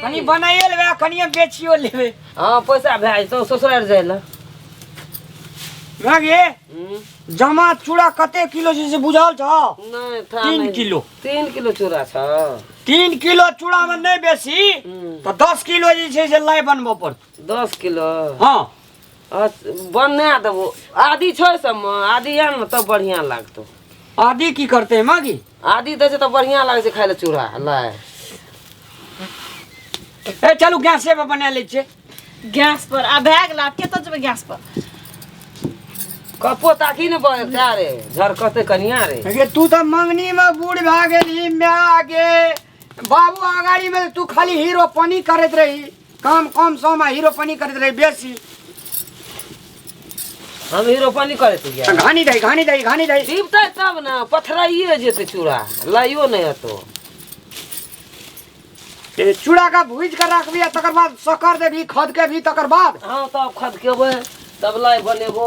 कनी बनाइयो लेबै आ कनियो बेचियो लेबै हाँ पैसा भए जेतौ ससुरार जाए ला भागे हम्म, जमा चूड़ा कते किलो छै से बुझल छौ नहीं था तीन नहीं। किलो तीन किलो चूड़ा छ तीन किलो चूड़ा में नहीं बेसी हम्म, तो दस किलो जे छै से लाई बनबऽ पड़त दस किलो हाँ बना देबो आदि छै सबमे आदि आन ने तब बढ़िआँ लागतौ आदि की करतै मागी आदि दै छै तऽ बढ़िआँ लागै छै खाय लए चूड़ा लाय ए चलू गैसे पर बना लै छियै गैस पर आ भए गेल आब कतऽ जेबै गैस पर कपो ताकि ने बह रे झरकते कनिया रे तू तऽ मंगनी में बूढ़ भए गेलही माय गे बाबू अगाड़ी में तू खाली हीरो पानी करत रही काम कम सम आ हीरो पानी करत रही बेसी हम हीरो पानी करे तू गया घानी दही घानी दही घानी दही दीपता तब ना पथराइए जेते चूड़ा लाइयो नहीं हतो ए, चूड़ा का भूज कर रखबी आ तकर बाद सकर देबी खद के भी तकर बाद हाँ तब खद के बे तब लाई बनेबो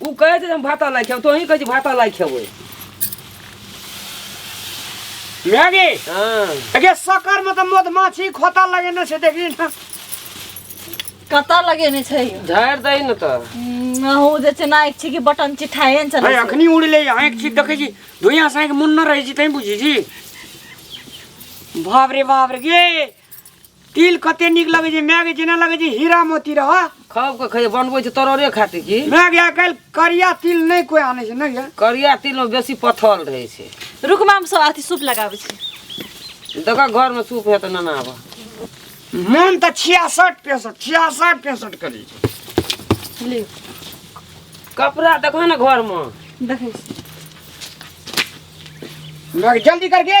ऊ कहै छै जे हम भाता लाइ खेबै तोहीं कहै छी भाता लाइ खेबै मैगी हँ अगे सकर में तो मधुमाछी खोता लगेने छै देखी ना कतऽ लगेने छै यौ? झाड़ि दही ने तऽ हम्म, अहूँ जे छै ना एक छी कि बटन चिठाए ने अरे चलै छै। अखनी उड़ ले आँखि छी देखै छी धुइयाँ से आँखि मुन्ना रहै छी तैं बुझी छी बाप रे बाप रे गे तिल कते नीक लगै छै माय के जेना लगै छै हीरा मोती रह खब के खैया बनबै छै तरोरे खातिर की माय के आइ काल्हि करिया तिल नहि कोइ आनै छै नहि यऽ करिया तिल में बेसी पथल रहै छै रुकमा हम सब अथी सूप लगाबै छी देख घर में सूप है तो नना आबऽ मन तऽ छियासठ पैंसठ छियासठ पैंसठ करै छै लियो कपड़ा देखो ना घर में देखै छी माय के जल्दी करके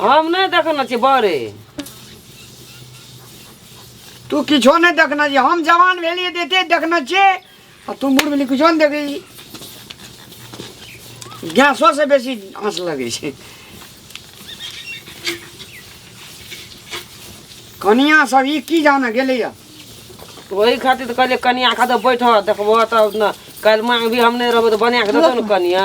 हम नहि देखने छी बड़े तू किछो नहि देखने छी हम जवान भेलियै तऽ एते देखने छियै आ तू बूढ़ भेली किछो नहि देखै छी गैसो से बेसी आँच लगै छै कनिया सब ई की जाने गेलैया ओही खातिर तऽ कहलियै कनिया खातिर बैठऽ देखबऽ तब ने काल्हि माँग भी हम नहि रहबै तऽ बना कऽ देतौ ने कनिया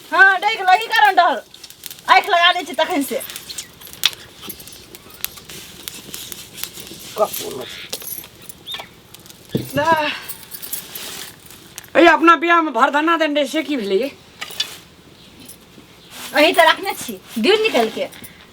हाँ डैक लगी कारण डर आँख लगा दै छी तखन से कपूर ए अपना बियाह में भरधना देन रहे से की भेलै ये? अही तऽ रखने छी दिउ निकल के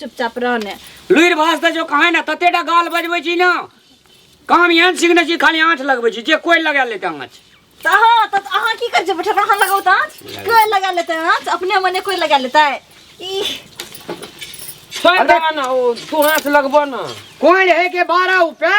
चुपचाप रहने लुरि भास दे जो कहाँ ना तते टा गाल बजबै छी ना काम एहन सीखने छी खाली आँच लगबै छी जे कोइ लगा लेते आँच तऽ अहाँ तऽ अहाँ की करै छियै ठकरा अहाँ लगाउ तऽ आँच कोइ लगा लेतै आँच अपने मने कोइ लगा लेतै ई छोड़ दे ना ओ तू हाथ लगबो ना कोइ है के बारह रुपया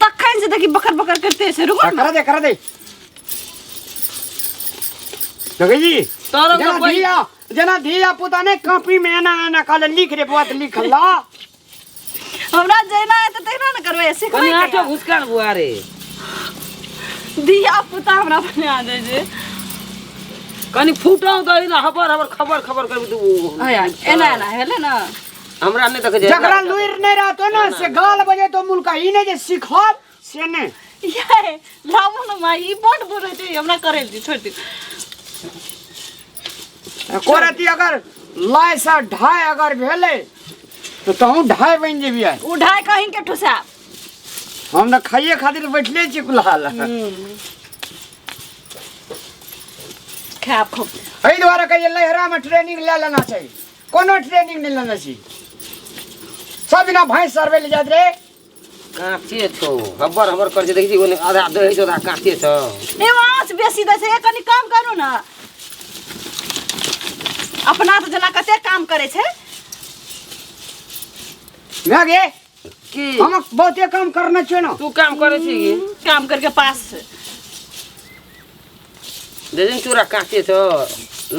तखन से देखी बकर बकर करते से रुको करा दे करा दे जगह जी तोरो जना कोई धिया जना धिया पुता ने कॉपी में एना एना कहले लिख रे बुआ तो लिख ला हमरा जैना है तो तेना न करवे ऐसे कोई कनिया तो घुसकान बुआ रे दिया पुता हमरा बने आ जाए जे कनी फूटो दही ना हबर हबर खबर खबर कर दू आया एना एना हेले ना हमरा नहि देखै छै जकरा लुरि नहि रहतो ने से गाल बजे तो मुल्का ई नहि जे सिखब से नहि ये लामो न माई ई बड बोले छै हमरा करे दी छोड़ दी एको रति अगर लाय से ढाई अगर भेले तो तहूँ ढाई बनि जेबियै उठाय कहीं के ठुसा हम तऽ खाइए खातिर बैठले छी कुल्हा लए खाब खूब एहि दुआरे कहिए लहरामे ट्रेनिंग लए लेना चाही कोनो ट्रेनिंग नहीं लेने छी सब बिना भैंस सर्वे ले जात रे काँचे छौ हब्बर हब्बर कर जे देखै छी ओने आधा दही छौ आधा काँचे छौ ए माछ बेसी दै छै ए कनी कम करू ने अपना से जेना कते काम करै छै भए गे की हम बहुते काम करना छै न तू काम करे छी की काम करके पास से दे दिन चूरा काटे तो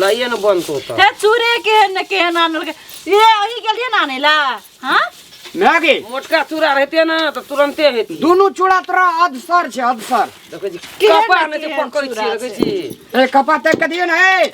लाइए न बनतो तो हे चूरे के न के आनल के ये अही गेलिए ना आने ला हां मागे मोटका चूरा रहते ना तो तुरंते हेती दुनु चूड़ा तोरा अधसर छै अधसर देखै छी केहन कपा ने के केहन पकड़ै छी चूरा देखै छै? छी ए कपा तक के दियो न ए